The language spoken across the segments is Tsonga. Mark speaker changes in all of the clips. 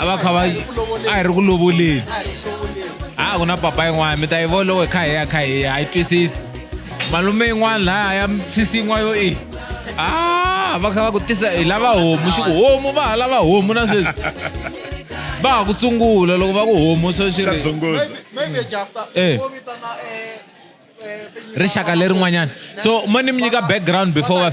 Speaker 1: a va kha va a hi ri ku lovoleni a ku na papa yin'wana mi ta yi volowo hi kha hi ya kha hi ya a yi twisisi malume yin'wana laha ya sisi yin'wana yo i a va kha va ku tisa hi lava homu xi ku homu va ha lava homu na sweswi va ha ku sungula loko va ku homu sweswi rixaka lerin'wanyana so mo ni mi nyika background before wa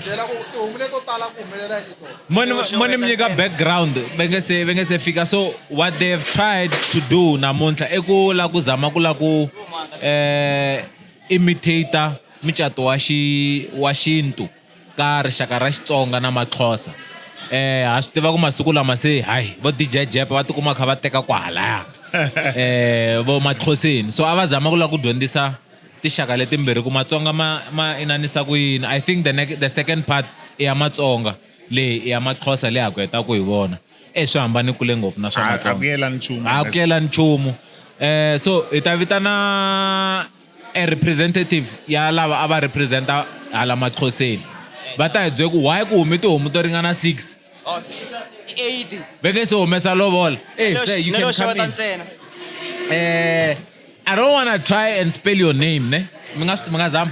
Speaker 1: mo ni mi nyika background va nge se va nge se fika so what they have tried to do namuntlha i ku lava ku zama ku lava ku um imitator mucato wa xi wa xintu ka rixaka ra xitsonga na maxhosa eh ha swi tiva ku masiku lama se hayi vo dj jep va tikuma kha va teka kwahalaya eh vo maxhoseni so a va zama ku lava ku dyondzisa tixaka letimbirhi ku matsonga ma ma inanisa ku yini i think the, the second part i ya matsonga leyi i ya maxhosa leyi ha ku heta ku hi vona eh swi hambane kule ngopfu na swa matsonga a ku yela nchumu eh so hi ta vitana A representative ya lava a va representa hala maxhoseni va ta hi byela ku why ku hume tihomu to ringana six Oh, six,
Speaker 2: eight. va nge se
Speaker 1: humesa lovola Eh, Nelo- sir, you nelo can come xeweta in. ntsena. Eh, i don't wanna try and spell your name ne mi nga swi- mi nga zama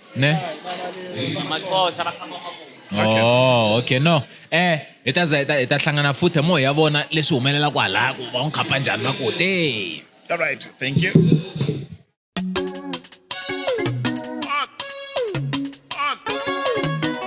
Speaker 3: ne maxosa va khamba Okay. Oh, okay no
Speaker 1: eh hi ta za hi ta hi ta hlangana futhi hi moya ya vona leswi humelelaka halaya ku va n'wi khapa njhani va ku te All right. Thank
Speaker 4: you.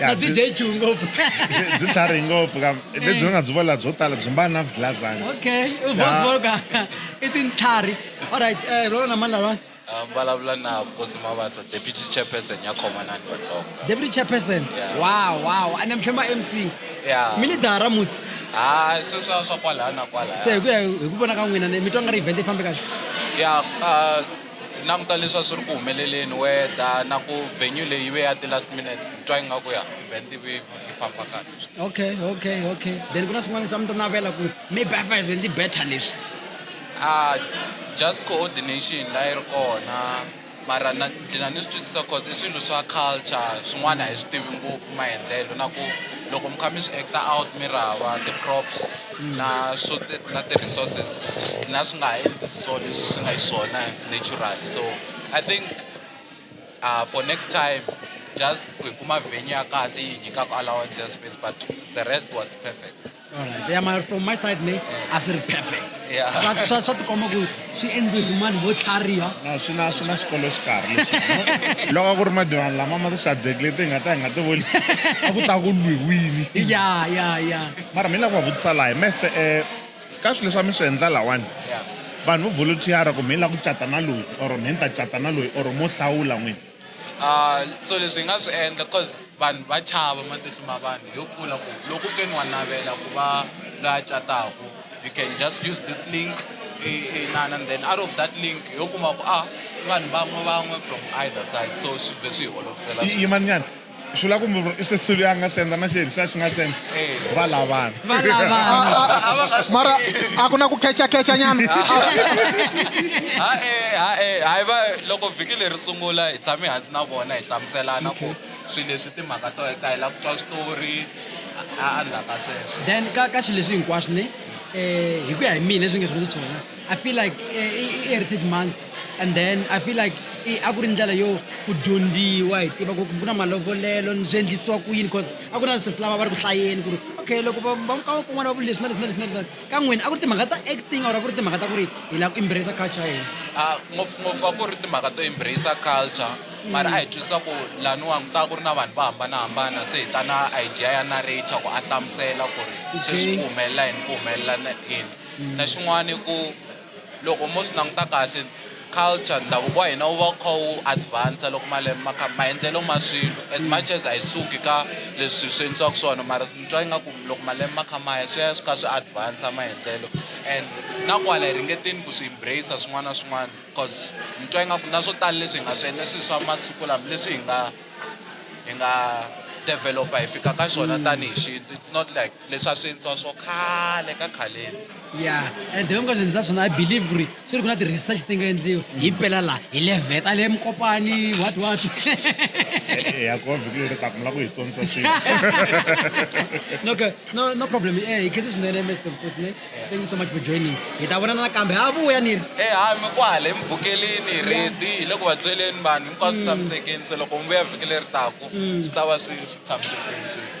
Speaker 5: na byi dye juu ngopfu byi- byi tlhari
Speaker 4: ngopfu ka lebyi nga byi vola byo tala byi mbala na vigilazana okay vosvoka
Speaker 5: i tintlhari allright um rolo na mani lalwani Ah, vulavula na
Speaker 6: vukosi mavasa deputy chairperson ya khomanani vatsonga deputy chairperson
Speaker 5: Yeah. wow
Speaker 6: wow a ni mhlema
Speaker 5: mc ya mi lidara
Speaker 6: musi
Speaker 5: ha sweswa
Speaker 6: swa kwalaya na kwalaya se hi ku ya hi ku vona
Speaker 5: ka n'wina ni mi twa nga ri event yi fambe kahle ya ah,
Speaker 6: Hi languta leswi a swi ri ku humeleleni weather na ku venue leyi ve ya ti-last minute ni twa ingaku ya event yi ve yi famba kahle. Okay okay okay then
Speaker 5: ku na swin'wana leswi a mi ta navela ku maybe a fa hi endli better leswi. Ah just
Speaker 6: coordination la yi ri kona mara na gcina ni swi twisisa cause i swilo swa culture swin'wana a hi swi tivi ngopfu maendlelo na ku loko mi kha mi swi act-a out mi ri hava ti-props. na swo na ti-resources swi dlina swi nga ha endli so leswi swi nga xiswona natural so i think uh, for next time just ku hi kuma venue ya kahle yi nyikaka allowance ya space but the rest was perfect Alright. Yeah, my,
Speaker 5: from my side, me, I said perfect. Yeah. That's, that's
Speaker 6: what the comic
Speaker 5: swi endliwe hi mani vo tlhariha na swi na swi na
Speaker 4: xikolo xikarhi lexi loko ku ri madivani lama ma ti-subject leti hi nga ta hi nga ti voni a ku ta ku lwiwini ya ya ya
Speaker 5: mara mi lava ku va
Speaker 4: vutisa laha hi meste um ka swilo leswi a mi swi endla lawani vanhu vo volunteer-a ku mi lava ku cata na loyi or mi ni ta cata na loyi or mo hlawula n'wini Uh,
Speaker 6: so leswi hi nga swi endla cause vanhu va chava matihlo ma vanhu yo pfula ku loko ke ni wa navela ku va loyi a cataku you can just use this link inana and then out of that link yo kuma ku a ah, vanhu van'we van'we from either side so swi vhe swi hi olovisela
Speaker 4: swi vula kumbe i sesulu ya nga senda na xerisa xi nga senda va lavana
Speaker 7: mara a ku na ku khechakecha nyana hae
Speaker 6: hae hayi va loko vhiki leri sungula hi tshame hansi na vona hi hlamuselana ku swi leswi timhaka to ta hi lava ku twa switori a ndzhaku ka sweswo then ka ka xi leswi
Speaker 5: hinkwaswo ne um hi ku ya hi mina leswi nge swi swona I feel like eh, i i heritage month and then I feel like i- a ku ri ndlela yo ku dyondziwa hi tiva ku ku na malovolelo ni swi endlisiwa ku yini because a ku na sesi lava va ri ku hlayeni ku ri okay loko va va ka kun'wana va vuli leswi na leswi na leswi na leswi na- ka n'wina a ku ri timhaka ta acting or a ku ri timhaka ta ku ri hi lava ku embrace culture ya hina Ah, ngopfungopfu a ku ri
Speaker 6: timhaka to embrace culture mara a hi twisisa ku laniwa ku ta ku ri na vanhu va hambanahambana se hi ta na idea ya narrator ku a hlamusela ku ri sweswi ku humelela yini ku humelela na- yini Na xin'wana i ku loko mo swi languta kahle culture ndhavuko wa hina wu va wu kha wu advance loko malembe ma kha maendlelo ma swilo as much as a yi suki ka leswi swilo swi endlisiwaka swona mara ni twa ingaku loko malembe ma kha ma ya swi ya swi kha swi advance maendlelo and na kwala hi ringeteni ku swi embrace-a swin'wana na swin'wana cause ni twa ingaku na swo tala leswi hi nga swi endla i swilo swa masiku lama leswi hi nga hi nga develop-a hi fika ka swona tanihi xintu it's not like. leswa swintshwa swo khale ka khaleni ya and
Speaker 5: the hinkwaswo ndzi za swona i believe ku ri swi ri ku na ti-research ti nga endliwa hi pela laha hi le veta le mukopani what what
Speaker 4: ya ko vhiki leri taka mi la ku hi tsonisa swilo
Speaker 5: no okay. no no problem eh hi khense swinene mr mfosne thank you so much for joining hi ta vonana nakambe ha vuya ni ri e hayi mi kwale
Speaker 6: emubukeleni redi hi le ku va byeleni vanhu hinkwaswo tshamisekeni se loko mi vuya vhiki leri taku swi ta va swi swi tshamisekeni swi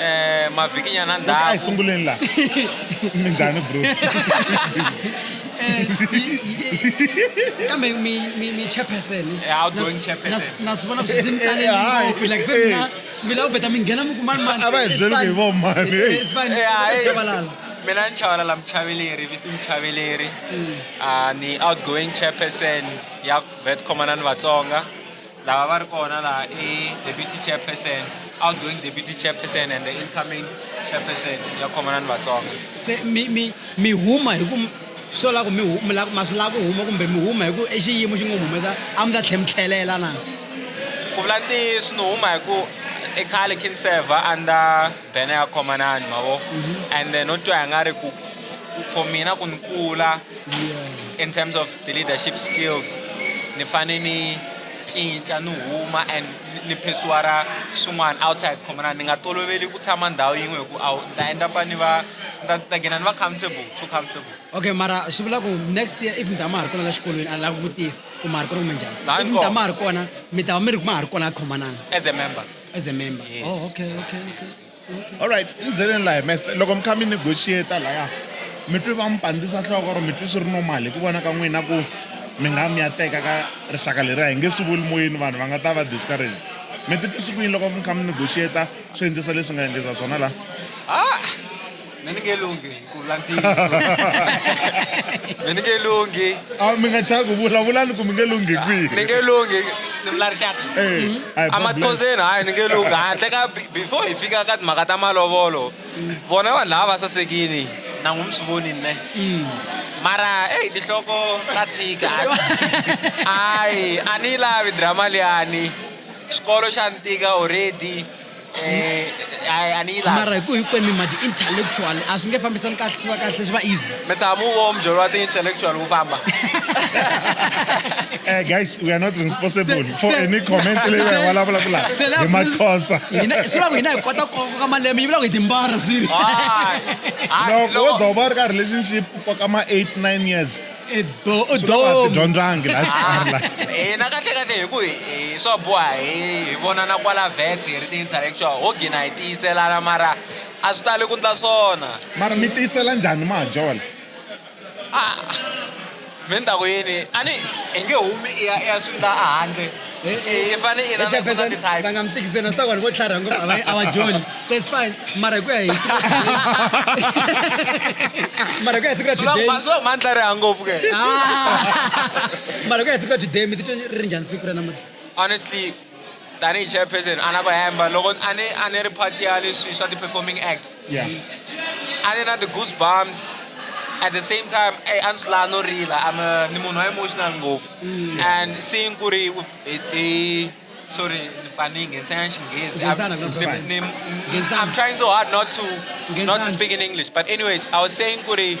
Speaker 8: eh mavhiki nyana ndhawu ai sunguleni
Speaker 4: la minjhani bro eh,
Speaker 5: kambe mi mi mi chairperson how don't chairperson
Speaker 8: na sivona swi mtale
Speaker 5: ngopfu like se mina mi lava beta mi nghena mi kuma mani a va hi byeli ku hi vo
Speaker 4: mani
Speaker 5: mina ni chavalala
Speaker 8: muchaveleri visi muchaveleri hmm. ah, ni outgoing chairperson ya vet commandant vatsonga lava va ri kona laha i deputy chairperson outgoing deputy chairperson and the incoming chairperson ya khomana ni vatsonga se mi mi
Speaker 5: mi huma hi ku swo la ku mi ma swi lava ku huma kumbe mi huma hi ku i xiyimo xi nga humesa a mi ta tlhe mi tlhelela na ku vula
Speaker 8: ntiyiso ni huma hi ku i khale khin server under bene ya khomanani mavo and then no twa hi nga ri ku ku- for mina ku ni kula in terms of the leadership skills ni fane ni cinca ni huma and ni- ni phesuwara swin'wana outside khomanani ni nga toloveli ku tshama ndhawu yin'we hi ku awu ni ta endapa ni va ni ta- ni ta gina ni va comfortable too comfortable okay mara swi vula
Speaker 5: ku next year if mi ta ma ha ri kona la xikolweni a lava ku vutisa ku ma ha ri kona kumbe njhani Laha if ni mi ta kona. ma ha ri kona mi ta va mi ri ma ha ri kona a khomanana as a member
Speaker 8: as a member yes.
Speaker 5: oh okay okay okay
Speaker 4: all right ni byeleni laha mester loko mi kha mi negotiate laya mi twi va mi pandzisa nhloko or mi twi swi ri normal hi ku vona ka n'wina ku mi nga mi ya teka ka rixaka leri a hi nge swi vuli moyeni vanhu va nga ta va discouraged mi titwisi ku yini loko mi kha mi negotiate swi endlisa leswi nga endlisa swona laha ah!
Speaker 8: me ni nge lunghi ku vula ntiyiso me ni nge lunghi a mi nga chava ku
Speaker 4: vulavulani ku mi nge lunghi kwihi ni nge lunghi
Speaker 8: ni vula rixaka amathondzeni hayi ni nge lunghi handle ka before hi fika ka timhaka ta malovolo vona vanhu lava va sasekini na n'wi mi swi voni ne mm. mara eyi tinhloko ta tshika ayi a ni yi lavi drama liyani xikolo xa ni tika already Eh, a ni yi lavi mara hi ku hinkwenu mi ma
Speaker 5: ti-intellectual a swi nge fambisani kahle swi va kahle swi va easy mi tshama u vo mujolo
Speaker 8: wa ti-intellectual wu famba
Speaker 4: Eh, guys, we are not responsible for Se- any comment se- leyi va hi vulavula ku laha se la- hi maXhosa. Hina- swi vula ku hina hi
Speaker 5: kota ku koka malembe yi vula ku hi timbara swilo
Speaker 4: Loko wo za u va u ri ka relationship u koka ma 8 9 years i do i do dyondzangi la xikarhi la hina kahle kahle hi
Speaker 8: ku hi swa boha hi hi vonana kwala vet hi ri ti-intellectual ho gina hi tiyiselana mara a swi tali ku ndla swona mara mi tiyisela
Speaker 4: njhani majola a
Speaker 8: mi ni ta ku yini a ni hi nge humi i ya i ya swi ndla a handle i fane i na- na- na ti-type. va nga mi tikiseni swi ta ku
Speaker 5: vanhu vo tlharha ngopfu a va- a va joli se it's fine mara hi ku ya hi mara hi ku ya hi siku ra Swi la ku today ma- swi la ku ma ni tlariha ngopfu
Speaker 8: ke Ah!
Speaker 5: mara hi ku ya hi siku ra today mi titwa ri ri njhani siku ra namuntlha honestly
Speaker 8: tanihi chairperson a na ku hemba loko a ni a ni ri part ya leswi swa ti-performing act yeah a ni na the goose bumps at the same time hey, a ni swi laha no rila i'm a, ni munhu wa emotional ngopfu mm. and seeing ku ri hi sorry ni pfa ni nghenisana xinghezi i'm trying so hard not to not to speak in english but anyways i was saying ku ri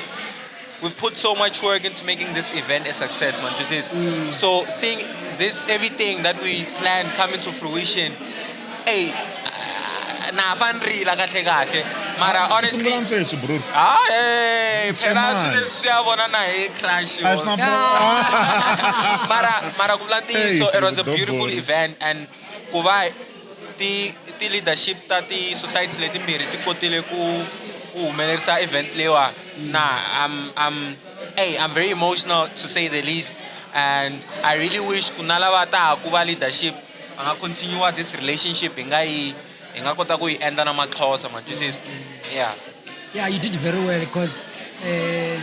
Speaker 8: We've put so much work into making this event a success, man. Mm. So seeing this, everything that we planned coming to fruition, hey, na fan rila kahle kahle mara honestly sweswi bro ah eh phela swilo leswi ya vona na hi crash mara mara ku vula ntiyiso it was a beautiful event and ku va Ti ti leadership ta ti society letimbirhi ti kotile ku ku humelerisa event leyiwa na I'm I'm hey I'm very emotional to say the least and I really wish ku na lava ta ha ku va leadership va nga continue this relationship hi nga yi hi nga kota ku yi endla na matlhosa ma twisisa yeah
Speaker 5: yeah you did very well because um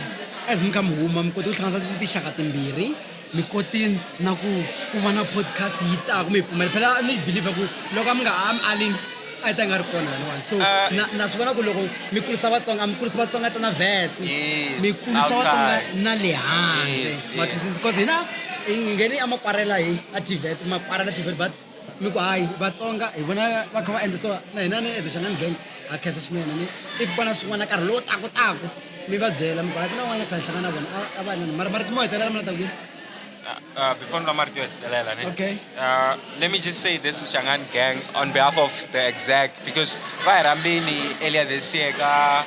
Speaker 5: as mi kha mi huma mi kote ku hlanganisa tinxaka timbirhi mi kotini na ku ku va na podcast yi taka mi yi pfumela phela ni believe ku loko a mi nga a mi aling a yi ta yi nga ri kona laniwani so Ah, na- na swi vona ku loko mi kurisa vatsonga a mi kurisi vatsonga ta na vet Yes, mi kurisa outside. vatsonga na le handle Yes, yes. matwisisi because hina hi nghene a makwarela hi a tivet makwarela tivet but ni ku hayi vatsonga hi vona va kha va endla so na hina ni eze xangani gang ha khensa swinene ni if ku na swin'wana nkarhi lowu taku taku mi va byela mi ku hayi ku na un'wana tshama hlangana na vona a va nani mara marito mo hetelela mina taku Uh, uh,
Speaker 9: before Lamar do it, Lela, ne? Okay. Uh,
Speaker 5: let me
Speaker 9: just say this to Shangan gang on behalf of the exec because Vairambini earlier this year ka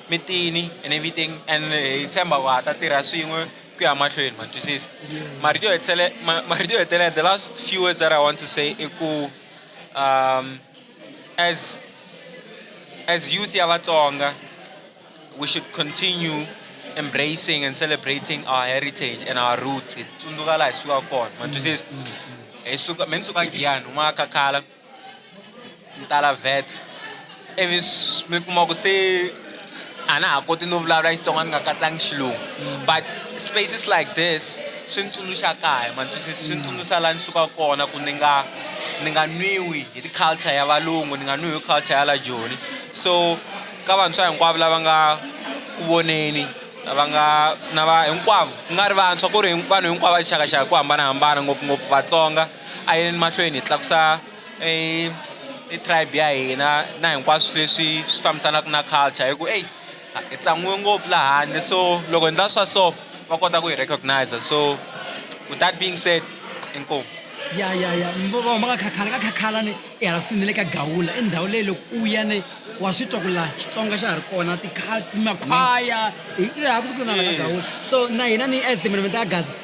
Speaker 9: mitini and everything and hi tshemba ku ha ta tirha swin'we ku ya mahlweni ma twisisa marito yo hetelela marito yo hetelela the last few words that i want to say i ku um as as youth ya vatsonga we should continue embracing and celebrating our heritage and our roots hi tsundzuka laha hi sukaka kona ma twisisa hi suka me ni suka giyani huma ka khala ni tala vats ivi mi kuma ku se a na ha koti no vulavula Xitsonga ni nga katsangi xilungu but spaces like this swi ni tsundzuxa kaya ma twisisa swi ni tsundzuxa laha ni sukaka kona ku ni nga ni nga nwiwi hi ti culture ya valungu ni nga nwiwi hi culture ya la joni so ka vantshwa hinkwavo lava nga ku voneni lava nga na va hinkwavo ku nga ri vantshwa ku ri vanhu hinkwavo va xakaxaka hi ku hambanahambana ngopfungopfu Vatsonga. a yi yeni mahlweni hi tlakusa e i tribe ya hina na hinkwaswo leswi swi fambisanaka na culture hi ku eyi hi tsan'wiwe ngopfu laha handle so loko hi endla swa so va kota ku hi recognize so with that being said inkomu ya ya ya
Speaker 5: va nga khakhala ka khakhala ni ehansi ni le ka gawula i ndhawu leyi loko u ya ni wa swi twa ku laha xitsonga xa ha ri kona timakhwaya hi laha ku sukuna ka gawula so na hina ni as development ya gaza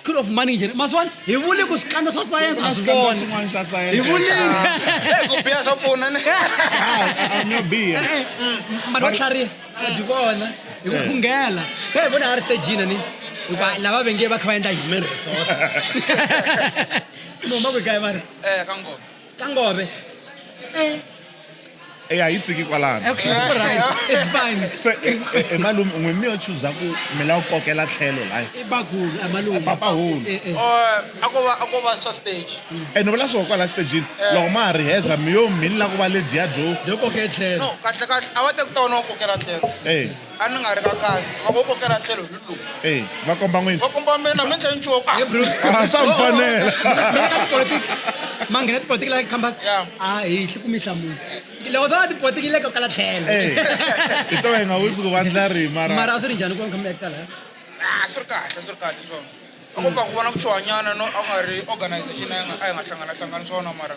Speaker 5: School of Management. Maswan, hi vule ku swikandza swa science a swi kona. Swin'wana swa science. Hi
Speaker 4: vule Eh,
Speaker 5: ku biha
Speaker 8: swa pfuna ni. I'm not
Speaker 4: beer. Mara va tlhariha.
Speaker 5: Va byi vona. Hi ku phungela. He hi vona a ri stejini ni. Hikuva lava va venge va kha va endla human resort. Moma ku kaya va ri. Eh, ka ngoma. ka
Speaker 8: ngove
Speaker 4: eh eya hi tsiki kwalano okay right
Speaker 5: it's fine se e, e, e
Speaker 4: malume n'we mi yo chuza ku mi la kokela tlhelo la i bagulu a malume
Speaker 5: papa hulu eh,
Speaker 4: eh. oh, a ko va
Speaker 8: a ko va swa stage e ni vula swo kwala
Speaker 4: stage eh. loko ma ri heza mi yo mi la ku va le dia jo jo kokela tlhelo no
Speaker 5: kahle kahle a va
Speaker 8: te ku tona kokela tlhelo eh A ni nga ri ka kasi, a vo kokela tlhelo hi lowu. Eyi, va komba n'wini.
Speaker 4: Va komba mina, mi endle
Speaker 8: nchumu. He bro. A swa mi
Speaker 5: fanela.
Speaker 4: Mi nga tipolotiki, ma
Speaker 5: nghena tipolotiki la Cambus? Ya. A hi hli ku mi hlamula. Loko swo va tipolotiki yi le ko kala tlhelo. Eyi, hi to
Speaker 4: hi nga wisi ku vandla rihi mara. Mara a swi ri njhani ku va mi kha mi
Speaker 5: act-a laya? A swi ri
Speaker 8: kahle, a swi ri kahle swona. A ko pfa ku vona ku chuhanyana, no a ku nga ri organization a yi nga, a yi nga hlanganahlangani swona mara.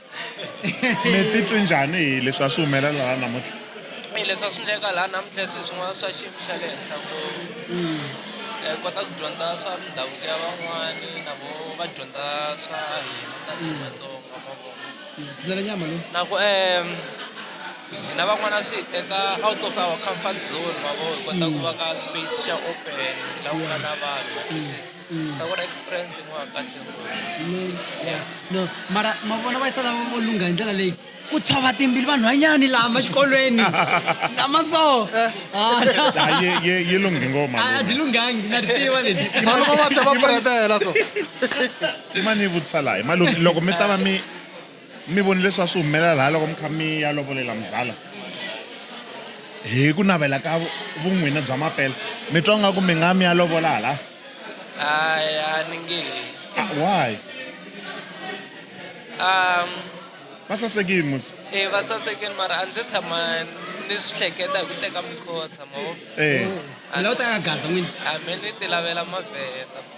Speaker 4: mi titwi njhani hi leswi a swi humelela laha namuntlha hi leswi a swi ndleka
Speaker 10: laha namuntlha swi swin'wana swa xiyimo xa le henhla ngopfu mm. eh, kota ku dyondza swa mindhavuko ya van'wani na vo va dyondza swa hina tanihi mm. vatsonga mavona mm, na
Speaker 5: ku um
Speaker 10: hina van'wana swi hi teka out of our comfort zone mavo hi kota ku va ka space xa open la ku nga na vanhu ta vona
Speaker 5: experience yin'wana kahle no mara ma vona va yisala vo lungha hi ndlela leyi ku tshova timbili vanhwanyani lama xikolweni lama so
Speaker 4: yi lunghi ngoma a ti lunghangi na
Speaker 5: ti tiva leti vanhu va va tlhe va
Speaker 7: puretela so i
Speaker 4: mani yi vutisa laha loko mi ta va mi Mi vone leswi a swi humelela laha loko mi kha mi ya lovolela muzala hi ku navela ka vun'wini bya mapela mi twa nga ku mi nga mi ya lovola hala hayi
Speaker 10: a ni nge ah, why
Speaker 4: um va sasekile musi e va sasekile
Speaker 10: mara a ndzi tshama ni swi hleketa hi ku teka mikhosa mavo e eh. a la u ta
Speaker 5: ka gaza n'wini a mi ni ti lavela
Speaker 10: mavheta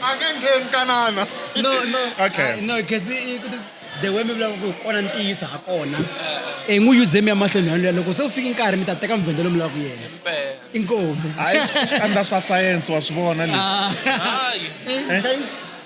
Speaker 7: a nge ngheni kanana no no
Speaker 5: Okay. ah, no
Speaker 4: kasi i-
Speaker 5: ku- the way mi vulavula ku hi kona ntiyiso ha kona i n'wi yuze mi ya mahlweni yoluya loko se u fike nkarhi mi ta teka mvhende lomu lava ku yena inkomu hayi swikandla
Speaker 4: swa sayense wa swi vona leswi Ah.
Speaker 10: Hayi. Eh, xa-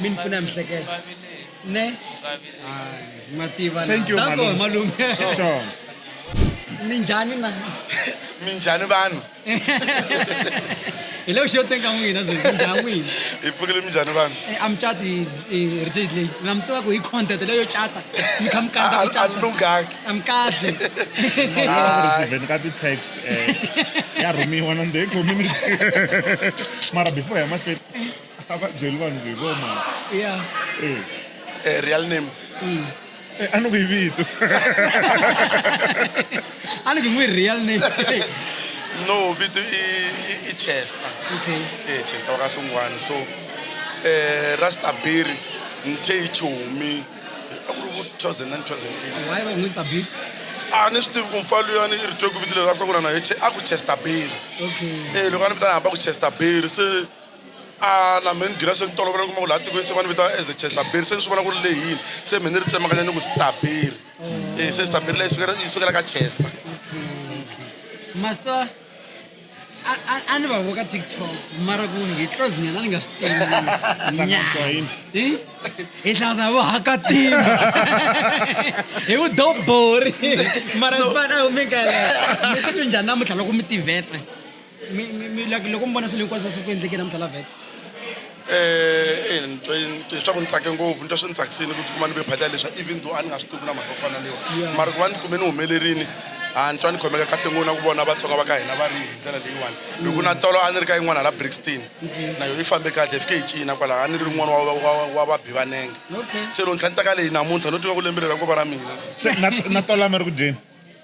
Speaker 5: mi ni pfuna hi mihleketo ne hayi ma tiva na Thank you, Dako,
Speaker 4: malume. malume
Speaker 5: Sure.
Speaker 4: mi
Speaker 5: njhani na minjhani
Speaker 11: vanhu
Speaker 5: hi le ku xiyoteni ka n'wina zwi mi njhani n'wina hi pfukile minjhani
Speaker 11: vanhu Eh, a mi cati hi
Speaker 5: reject leyi na mi tiva ku hi content leyo cata mi kha mi kandza ku cata lunghanga a
Speaker 11: mi kahle
Speaker 4: Even ka ti-text eh, ya rhumiwa na the community mara before ya mahlweni a va byeli vanhu ku hi vo mani
Speaker 5: ya Eh, Eh, real
Speaker 11: name eh, a
Speaker 4: ni ku hi vito
Speaker 5: a ni ku n'wi real name
Speaker 11: no vito i, i, i chester okay eh,
Speaker 5: chester wakahlungwana
Speaker 11: so eh, rastabiri nthe hi chomi a ku ri ku 2009 2008 why va n'wi stabi
Speaker 5: a ni swi tivi
Speaker 11: ku mfa luyani i ri twe ku vito leri a hlangana na hi Che- a ku chester beri okay Eh, loko a
Speaker 5: ni vitana hamba ku
Speaker 11: chester beri se a na mehe ni gina se ni tolovela ni kuma ku laha tikweni se va ni vitana as a chestaberi se ni swi vona ku ri leyini se mehe ni ri tsemakanya ni ku staberi mm. e se staberi leyi yi sukela ka chester mm. master a
Speaker 5: ni va voka tiktok mara ku hi close mina ni nga swi tivi hi hlangana vo hakatima hi ku dobori mara sifana a wu mi kalela mi titwi njhani namuntlha loko mi tivetse mi mi mi like loko mi vona swilo hinkwaswo swi ku endleke namuntlha la
Speaker 11: vhele Eh, eh, ni twe ni twe swa ku ni tsake ngopfu ni twa swi ni tsakisile ku tikuma ni ve phati ya leswa even though a ni nga swi tivi na mhaka yo fana lewa Yeah. mara ku va ni kume ni humelerini a ni twa ni khomeka kahle ngopfu na ku vona vatsonga va ka hina va ri hi ndlela leyiwani hi ku na tolo a ni ri ka yin'wana la brixton na yona yi fambe kahle hi fike hi cina kwalaho a ni ri rin'wana wa- wa- wa- wa vabi va nenge okay se loko ntlha ni taka leyi namuntlha no tiva ku lembe leri ra ku va ra mina se na- na
Speaker 4: tolama ri ku dyeni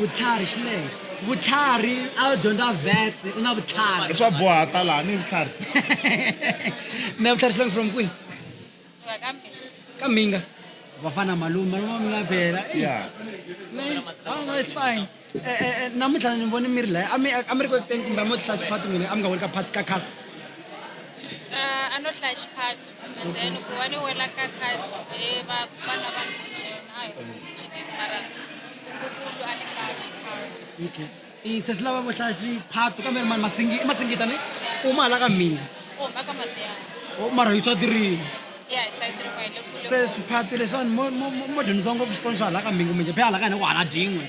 Speaker 5: vutlhari xi
Speaker 4: lehe
Speaker 5: vutlhari a wu dyondza vet u na vutlhari swa boha ta laha
Speaker 4: ni vutlhari
Speaker 5: na vutlhari xi langi from kwini
Speaker 12: ka minga
Speaker 5: vafana malume malume wa mina vhela
Speaker 4: it's
Speaker 5: fine E, e, e, namuntlha ni vone mi ri laya a mi a mi ri ku ekuteni kumbe a mo tihlaya xiphato n'wini a mi nga weli ka phat ka cast a
Speaker 12: no hlaya xiphato and then ku va ni wela ka cast je va vana va ni kuchena a hi kuchineni mara kungukulu a ni hlaya xiphato okay i
Speaker 5: sesi lava vo hlaya xiphato kambe ri mani masingi i masingita ni uma hala ka mina u huma ka
Speaker 12: matiyana o mara hi swa tirini se swiphati leswiwani
Speaker 5: mo- mo- mo- mo dyondzisa ngopfu xikolo xa hala ka mbingu minje phe hala ka hina ku hala dingwe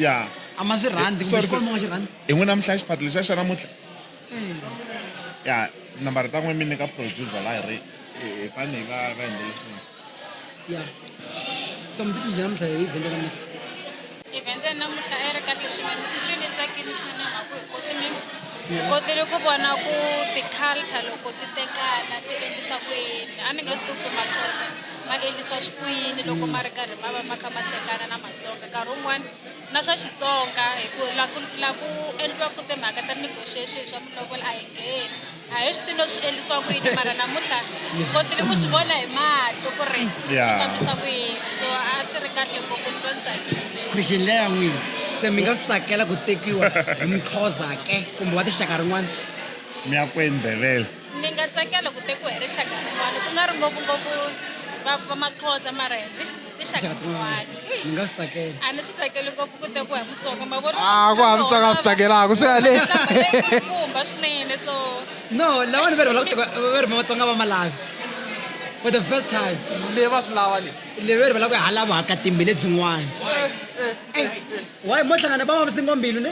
Speaker 5: ya a
Speaker 4: ma swi rhandi
Speaker 5: kumbe Sorry, xikolo mo nga sis. xi rhandi hi n'wina mihla xiphato
Speaker 4: lexa xa namuntlha ya nambara ta n'we mi nyika producer la hi ri hi- hi fane hi va va endlele swin'wana ya
Speaker 5: so mi titlinjhe namuntlha hi vhende namuntlha Event ya
Speaker 12: namuntlha a yi ri kahle swinene ni titwe ni tsakile swinene mhaka hi koti ni hi kotile ku vona ku ti-culture loko ti tekana ti endlisa ku yini a ni nge swi tivi ku maxhosa ma endlisa ku yini loko ma ri karhi ma va ma kha ma tekana na matsonga nkarhi wun'wani na swa xitsonga hi ku la ku la ku endliwaku timhaka ta negotiation swa mulovolo a hi ngheni a hi swi tino swi endlisiwa ku yini mara namuntlha kotile ku swi vona hi mahlo ku ri swi fambisa ku yini so a swi ri kahle ngopfu ni twa ni tsakile swinene christian leya n'wini
Speaker 5: se mi nga swi tsakela ku tekiwa hi mxhosa ke kumbe wa tinxaka rin'wana mi ya kweni
Speaker 4: ndhevele ni nga tsakela
Speaker 12: ku tekiwa hi rixaka rin'wana ku nga ri ngopfungopfu va maxhosa mara hi tinxaka tin'wana ni nga swi tsakela
Speaker 5: a ni swi tsakeli ngopfu
Speaker 12: ku te ku hi mutsonga ma vona Ah, ku hava Mutsonga a swi
Speaker 7: tsakelaka, swi ya le. kumba
Speaker 12: swinene so no lawani
Speaker 5: va ri va lava ku va ri matsonga va malavi for the first time le va swi lava
Speaker 7: le le va ri va lava ku halava
Speaker 5: haka timbi lebyin'wana why mo hlangana va va singombilo ne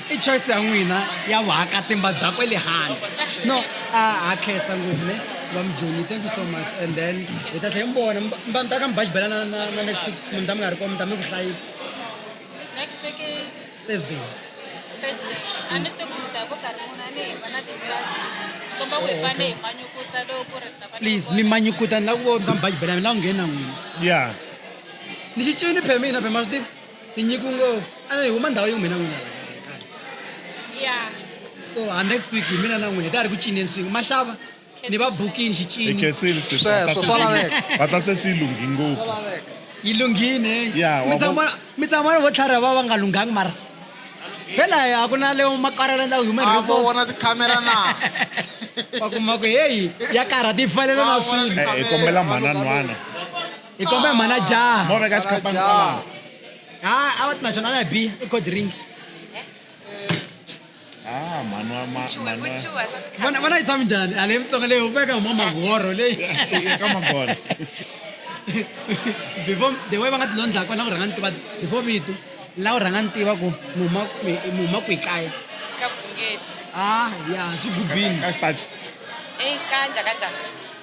Speaker 5: I choice ya n'wina ya vuhakatimba bya kwe le handle no a ha khensa ngopfu ne va mujoni thank you so much and then hi ta tlhela mi vona mi ta ka mi baji bela na na na next week mi ta mi nga ri kona mi ta mi ku hlayisa next
Speaker 12: week thursday
Speaker 5: thursday
Speaker 12: a ni swi tivi ku mi ta vo karhi munhu a ni hi va na titlasi swi komba ku hi oh, fane hi manyukuta loko ku ri ta va please mi manyukuta ni
Speaker 5: lava ku vona mi ta mi baji bela mi lava ku nghena n'wina ya
Speaker 4: ni
Speaker 5: xi cini phemina phema swi tivi tinyiko ngo ana hi huma ndhawu yo mina n'wina ya
Speaker 12: so
Speaker 5: ha next week hi mina na n'wina hi ta ri ku cineni swin'we maxava ni va bukini
Speaker 4: hi xicini
Speaker 7: khensile
Speaker 4: sweswi
Speaker 5: Sweswo, va ta swa
Speaker 4: se- laveka. va ta
Speaker 5: se swi
Speaker 4: lunghi
Speaker 7: ngopfu
Speaker 4: yi
Speaker 5: lunghini Ya, wa vona-
Speaker 4: mi tsamana
Speaker 5: vo tlhari va va nga lunghangi mara phela a ku na leyo makarela ndla human a vo resource vona tikhamera
Speaker 7: na wa
Speaker 5: kuma ku heyi ya karhati yi fanele na Va vona swilo Eh, hi kombela
Speaker 4: mhananhwana hi kombe
Speaker 5: mhana jaha mo veka xikapani
Speaker 4: kwalaho ha a
Speaker 5: va ti na xona na bi i cold drink Ah, mhani wa ma- Chuha, mhani wa- kuchuha swa tikha- vona vona yi tshami njhani a leyi mutsonga leyi hupeka huma mahoro leyi eka magona before the way va nga tilondla kona ku rhanga ni tiva before vito la u rhanga ni tiva ku mi huma mi- mi huma kwihi kaya ka Bungeni.
Speaker 13: a ya
Speaker 5: swi gubini ka xitachi
Speaker 4: Eyi, kanja,
Speaker 13: kanja.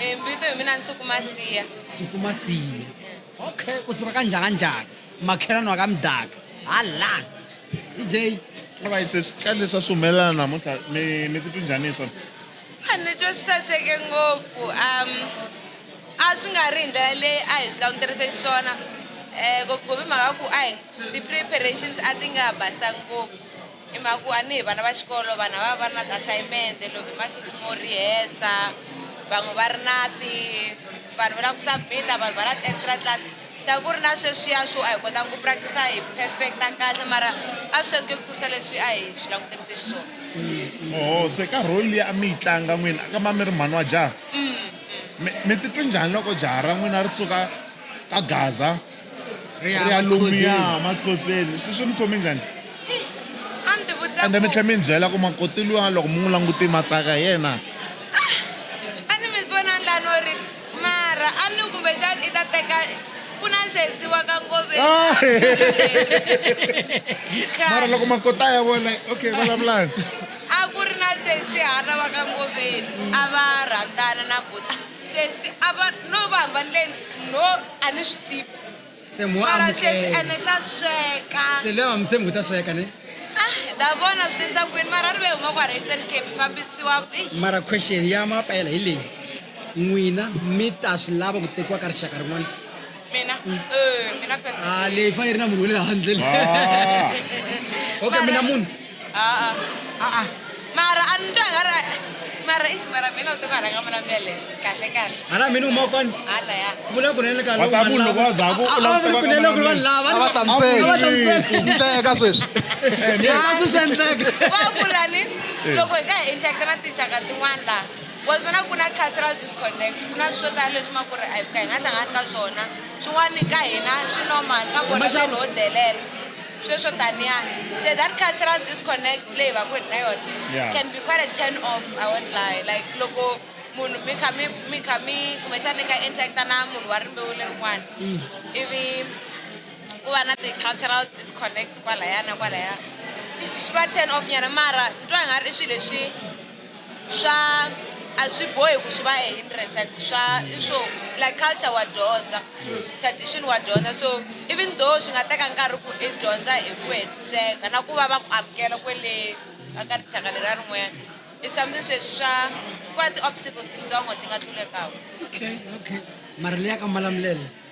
Speaker 5: Eh, mvito hi
Speaker 13: mina nsukumasiya nsukumasiya
Speaker 5: okay kusuka ka njhaka njhaka makhelani wa ka mdaka hala dj alright
Speaker 4: sesi ka leswi a swi humelela namuntlha mi mi titwi njhani hi swona a ni twa swi
Speaker 13: saseke ngopfu um a swi nga ri hi ndlela leyi a hi swi languterise xiswona um eh, ngopfungopfu hi mhaka ku a hi ti-preparations a ti nga basa ngopfu Hi mhaka ku a ni hi vana va xikolo vanhu a va va ri na ti-assignment loko i masiku mo rihesa van'we va ri na ti vanhu va lava ku submit-a vanhu va na ti-extra class se a ku ri na sweswiya swo a hi kotanga ku practice-a hi perfect-a kahle mara a swi saseke ku tlurisa leswi a hi swi languterise xiswona oho se ka role leyi
Speaker 4: a mi yi tlanga n'wini a ka ma mi ri mhani wa jaha mi mi titwe njhani loko jaha ra n'wina ri suka ka gaza rialumiya matloseni swi swi mi khome njhani a
Speaker 13: ni tivutisa ende mi tlhela mi ni byela ku
Speaker 4: makoti luya loko mi n'wi languti matsaka hi yena
Speaker 13: a ni mi vona ni lani ri mara a ni kumbexani i ta teka ku na xensiwa ka ngovemara
Speaker 4: loko makota ya vona okay vulavulani a ku ri
Speaker 13: na sensi hana wa ka ngoveni a va rhandzana na buti Sesi a va no va hambanileni? No, a ni swi tivi. Se mo Mara
Speaker 5: sesi amukela. ene xa
Speaker 13: sweka. Se loyi a nga mi tshembi ku
Speaker 5: ta sweka ne? Ah, hi ta vona
Speaker 13: swi endla kwini mara ri ve huma kwala Eastern Cape hi fambisiwa. Eish. Mara question
Speaker 5: ya mapela hi leyi. N'wina mi ta swi lava ku tekiwa ka rixaka rin'wana? Mina? Eh, mina
Speaker 13: first. Ah, leyi fane yi
Speaker 5: ri na munhu wa le handle. Ah. Okay, Mara- mina munhu. aa aa
Speaker 13: mara a ni twa nga ri mara i ximara mina u ti nga rhanga mina mele kahle kahle hala mina u mokoni
Speaker 5: hala ya vula ku
Speaker 13: nene ka loko
Speaker 5: vanhu loko va za ku
Speaker 4: u lava ku nene ku vanhu lava a va
Speaker 5: hlamuseli
Speaker 7: endleka sweswi eh, a swi
Speaker 5: swi endleka va ku rani
Speaker 13: eh. loko hi ka hi interact na tinxaka tin'wana laha wa swi vona ku na cultural disconnect ku na swo tala leswi ma ku ri a hi fika hi nga hlangani ka swona swin'wana ka hina swi normal ka vona vanhu ho delela sweswo taniya se that cultural disconnect leyi va ku ri na yona yeah. can be quite a turn off i won't lie like loko munhu mi kha mi mi kha mi kumbexana ni kha interacta na munhu wa rimbewu lerin'wana mm. ivi ku va na ti-cultural disconnect kwalaya na kwalaya swi va turn off nyana mara ni twa nga ri i swilo leswi swa a swi bohi ku swi va a hindrance like swa i swo like culture wa dyondza tradition wa dyondza so even though swi nga teka nkarhi ku i dyondza hi ku hetiseka na ku va va ku amukela kwele ka ka rixaka leriya rin'wanyana i something sweswi swa ku va ti-obstacles tintsongo ti nga tlulekaka okay okay
Speaker 5: mara leyi ya ka malamulela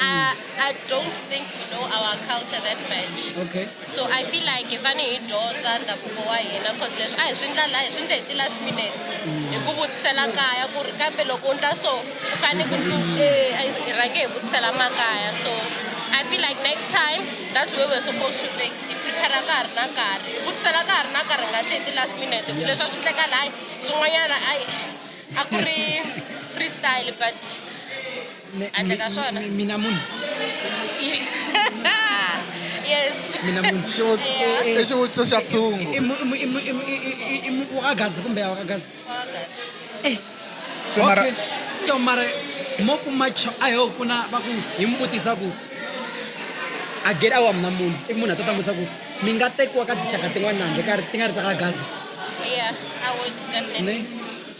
Speaker 14: Uh, I don't think we know our culture that much. Okay. So I
Speaker 5: feel like
Speaker 14: if any dyondza ndhavuko wa hina cause leswi a hi swi ndla la hi swi ndla hi ti-last minute mm. hi ku vutisela kaya ku ri kambe loko u ndla so u fanele ku eh, hi rhange hi vutisela makaya so I feel like next time that's where we're supposed to fix hi prepare ka ha ri na nkarhi hi vutisela ka ha ri na nkarhi nga ti hi ti-last minute ku leswi a swi ndleka layi swin'wanyana a ku ri freestyle but Mi- Handle ka mi- swona. mi- mina munhu yes mina munhu
Speaker 5: Xivu- Yeah. i- i xivutiso
Speaker 7: xa tshungu I mu- i mu- i mu- i mu- i- i- i- i mu-
Speaker 5: wakagazi kumbe ya wakagazi
Speaker 4: Eh, Se mara- okay. so mara
Speaker 5: mo kuma cho a yo ku na va ku hi mi vutisa ku a get awa mina munhu i munhu a ta ta mi vutisa ku mi nga tekiwa ka tinxaka tin'wana na handle ka ri- ti nga ri ta ka gaza yeah i
Speaker 14: would definitely ne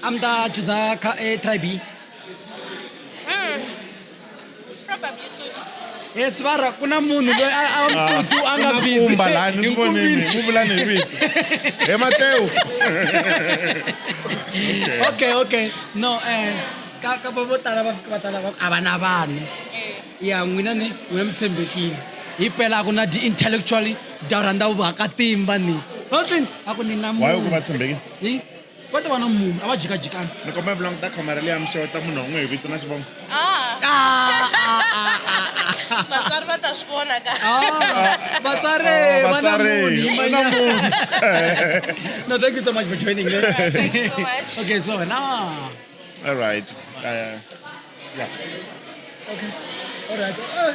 Speaker 14: a mi ta
Speaker 5: chuza ka e tribe
Speaker 14: yes vara
Speaker 5: ku na munhu loyi a a mfutu a nga busy. kumba lani Hi swi vonile
Speaker 4: nkumbini. u vulani hi vito he matewu
Speaker 5: okay okay no um ka ka va vo tala va fika va tala va ku a va na vanhu ya n'wina ni n'wina mi tshembekile hi pela a ku na di-intellectually da rhandza vakatimba ni Hotling, a ku ni na why u ku munhu va tshembekile
Speaker 4: Hi? va ta va na
Speaker 5: munhu a va jikajikana ni komba mi languta khamera
Speaker 4: leyi ya mixeweta munhu wan'we hi vito na xivongo ah.
Speaker 14: ah, ah, vatswari va ta
Speaker 5: swi vona ka vatswari va na munhu
Speaker 4: no thank you so much for joining
Speaker 5: me thank
Speaker 14: you so much okay so na all
Speaker 5: right
Speaker 4: uh, yeah okay all
Speaker 5: right uh.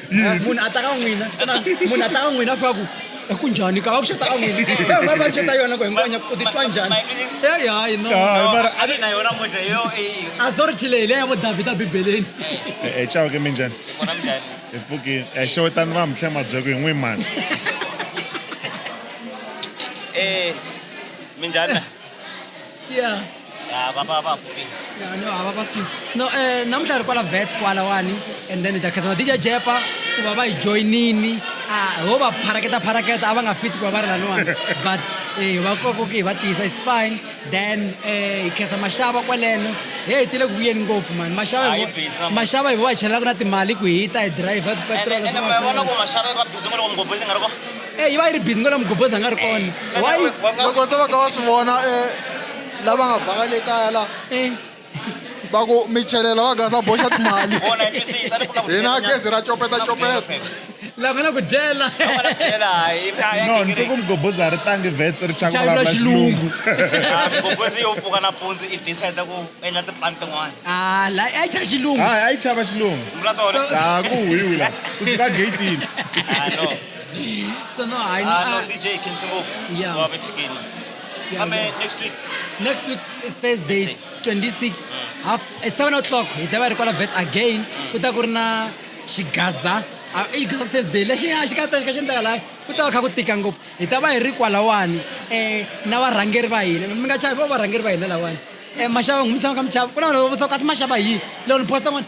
Speaker 5: Eh, munhu a ta ka n'wina xana munhu a ta ka n'wina fa ku "Eh, ku njhani ka va ku xata ka n'wina Eh, u nga va xata yona ku hinkwanya u titwa njhani eyi hayi no Ah, mara a ri na yona
Speaker 3: moja yo eyi authority leyi
Speaker 5: leya vo davhida bibeleni e cawa ke
Speaker 4: minjhani vona mnjhani hi
Speaker 3: pfukile e
Speaker 4: xewetani va mitlhe mabyeko hi n'wi mani eh
Speaker 3: minjhani
Speaker 5: yeah ya va va
Speaker 3: va booking Yeah, no, hava va skin.
Speaker 5: No, eh, namuntlha hi ri kwala vets kwalawani and then hi ta khensa na dj jepa ku va va hi joyinini Ah, ho va pharaketa pharaketa a va nga fiti ku va va ri laniwani but eh, va kokoke hi va tiyisa it's fine then eh, hi khensa maxava kwaleno he hi tile ku vuyeni ngopfu mani maxava Ah, hi hi vo- busy namuntlha. maxava hi vo va hi chelelaka na timali ku hi ta hi driver ene petrol ene swin'wana na vona ku swin'wana. maxava va busy ngopfu
Speaker 3: ngopfu leswi nga ri ko e yi va yi ri busy
Speaker 5: ngona mugobozi a nga ri kona why loko se va ka va swi
Speaker 7: vona eh, lava nga banga le kaya la Eh, va ku mi chelela va gasa boxa timali vona yi twisisa ni ku na
Speaker 3: ku hina dyela gezi ra copeta nyana.
Speaker 7: copeta
Speaker 5: lava nga na ku dyela Lava na ku dyela, hi- a
Speaker 4: ya no ni gingiriki. twe ku mugobozi a ri tangi vets ri chaka chayivula vulavula xilungu xilungu
Speaker 5: Ah, mugobozi
Speaker 3: yo pfuka nampundzu i decide ku endla tipani tin'wana Ah, la a yi chaya xilungu
Speaker 5: hayi a yi chava xilungu
Speaker 4: vula swona a
Speaker 3: ku huhiwi la
Speaker 4: kusuka geyitini Ah, no
Speaker 5: So no, I know. Uh, no, DJ can
Speaker 3: sing off. Yeah. Wabe
Speaker 5: fikile.
Speaker 3: Yeah, Ame yeah.
Speaker 5: next week. Next week first day 26 mm. half at eh, 7 o'clock hi ta va ri kwala vet again ku ta ku ri na xigaza ah, i gaza thursday lexi a xi ka ta xi ka xi endlaka laha ku ta va kha ku tika ngopfu hi ta va hi ri kwalawani um na varhangeri va hina mi nga chavi vo varhangeri va hina lawani um eh, maxava n'wi mi tshama ka mi chava ku na vanhu va vutisa ku kasi maxava hi loko ni posta n'wana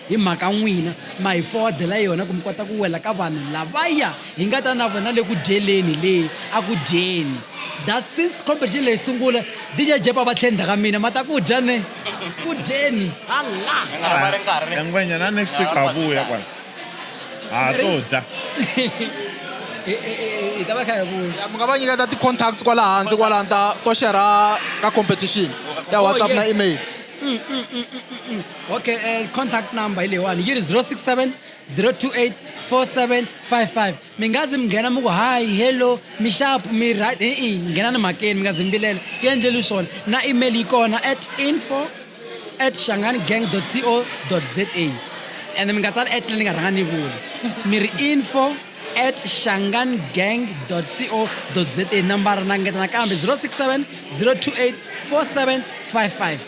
Speaker 5: Hi mhaka n'wina ma hi fowadela yona ku mi kota ku wela ka vanhu lavaya hi nga ta na vona le ku dyeleni le a ku dyeni. Da since competition leyi sungula DJ Jepa va tlhe ndzhaka mina ma ta ku dya ne ku dyeni ha la. Ya ngwenya
Speaker 4: na next week ha vuya kwala ha to dya.
Speaker 5: Hi ta va kha hi vuya. Mi nga va nyiketa ti
Speaker 7: contacts kwala hansi kwala ni ta to share ka competition ya WhatsApp na email. okay
Speaker 5: uh, contact number hi leyiwani yi ri 067 028 4755 mi nga zi mi nghena mi ku hayi hello mi xapu mi right i i nghena ni mhakeni mi nga zi mi vilela yi endleli swona na email yi kona at info at xangani gang co za ende mi nga tsali at leyi ni nga rhanga ni vula mi ri info at xangani gang co za nambara na ngetana kambe 067 028 4755